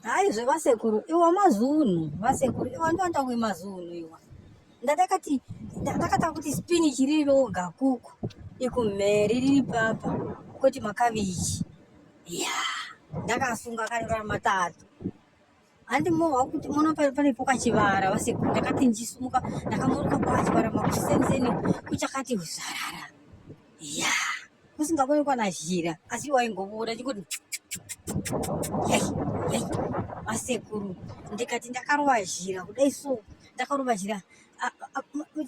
hayi zvevasekuru iwo mazunhu vasekuru iwa ndoanda kuve mazunhu iwa ndatakati ndakatanga kuti spinach riri roga kuku ikumheri riri papa koti makavichi ya ndakasunga akarivara matatu handi mohwa kuti mona paripo kachivara vasekuru ndakati ndisumuka ndakamuruka kwachivara makusenzeni kuchakati uzarara ya kusingakoni kwana zhira asi waingobuda chingoti masekuru ndikati ndakarova zhira kudai so ndakarova zhira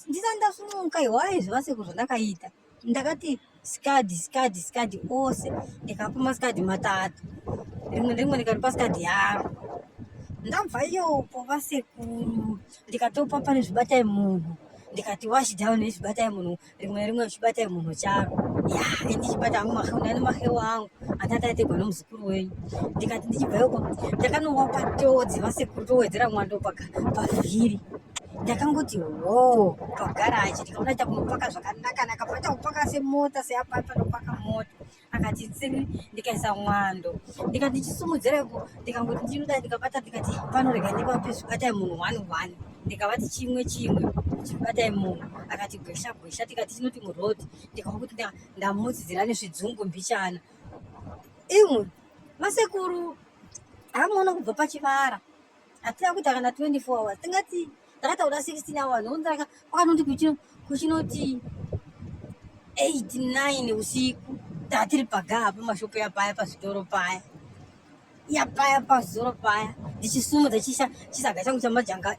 ndisati ndasumuka iwaye zvevasekuru zvandakaita ndakati skadi skadi skadi ose ndikapa maskadi matatu rimwe nerimwe ndikaripa skadi yaro ndabva iyopo vasekuru ndikatopa pane zvibatai munhu ndikati wash down nezvibatai munhu rimwe rimwe zvibatai munhu charo ya endi chibata hangu maheu ndani maheu angu atati ategwa nomuzukuru wenyu ndikati ndichibvayoko ndakanowa patodzi vasekuru towedzera mwando paka pavhiri ndakangoti hoo pagaraji ndikaona ita kunopaka zvakanaka naka paita kupaka semota seapaipa nopaka mota akati tsini ndikaisa mwando ndikati ndichisumudzira ko ndikangoti ndinoda ndikabata ndikati panorega ndipapi zvikatai munhu one one ndikavati chimwe chimwe chibatai munhu akati gwesha gwesha tikati chinoti muroad ndikava kuti ndamudzidzira nezvidzungu mbichana imwe masekuru amuona kubva pachivara hatina kuita kana 24 hours tingati ndakataura 16 hours onzaka kwakanoti kuchinoti 89 usiku tatiri pagaa pamashopo yapaya pazvitoro paya yapaya pazvitoro paya ndichisumudza chisaga changu chamajanga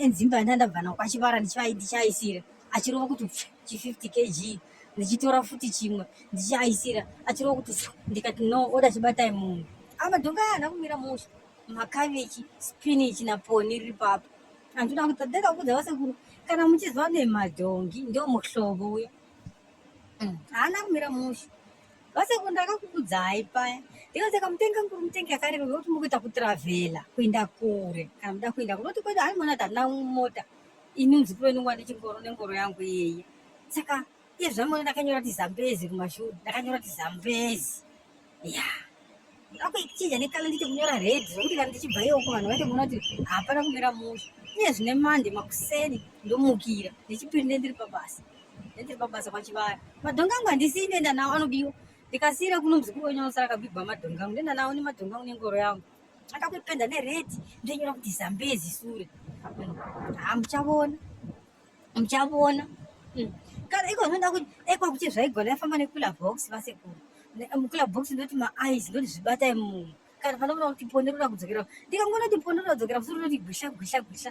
enzimba e, e, e, yandandabva nao kwachivara ndichaisira achirova kuti chi 50 kg ndichitora futi chimwe ndichiaisira achirova kuti ndikati no oda chibatai munhu amadhonga aya hana kumira musha makavechi spinach naponi riri papo andinoda kuti ndega kuudza vasekuru kana muchiziva nemadhongi ndo muhlobo uya mm, haana kumira mushe vasekuru ndakakuudzai paya ndikaseka mutenga nguru mutengi yakareba vekuti mukuita kutravhela kuenda kure kana muda kuenda kure oti kwete haimona kuti handina mota ini muzukuru wenungu ane chingoro nengoro yangu iyeye saka iye zvamuona ndakanyora kuti zambezi kumashure ndakanyora kuti zambezi ya akuichinja nekala ndiite kunyora red zvokuti kana ndichibva iyoko vanhu vaite kuona kuti hapana kumira musha iye zvine mande makuseni ndomukira nechipiri ndendiri pabasa ndendiri pabasa kwachivara madhonga angu handisii ndenda nawo anodiwa ndikasiira kuno muzukuru wenyu anosara akabigwa madhonga angu ndenda nawo nemadhonga angu nengoro yangu akakuipenda nered ndonyora kuti zambezi sure hamuchavona muchavona mm. kana iko zvinoda kuti ekwa kuti zvaigona yafamba nekula box vasekuru mukula box ndoti maeyes ndoti zvibatai munhu kana panoona kuti ponero rakudzokera ndikangoona kuti ponero radzokera musoro roti gwisha gwisha gwisha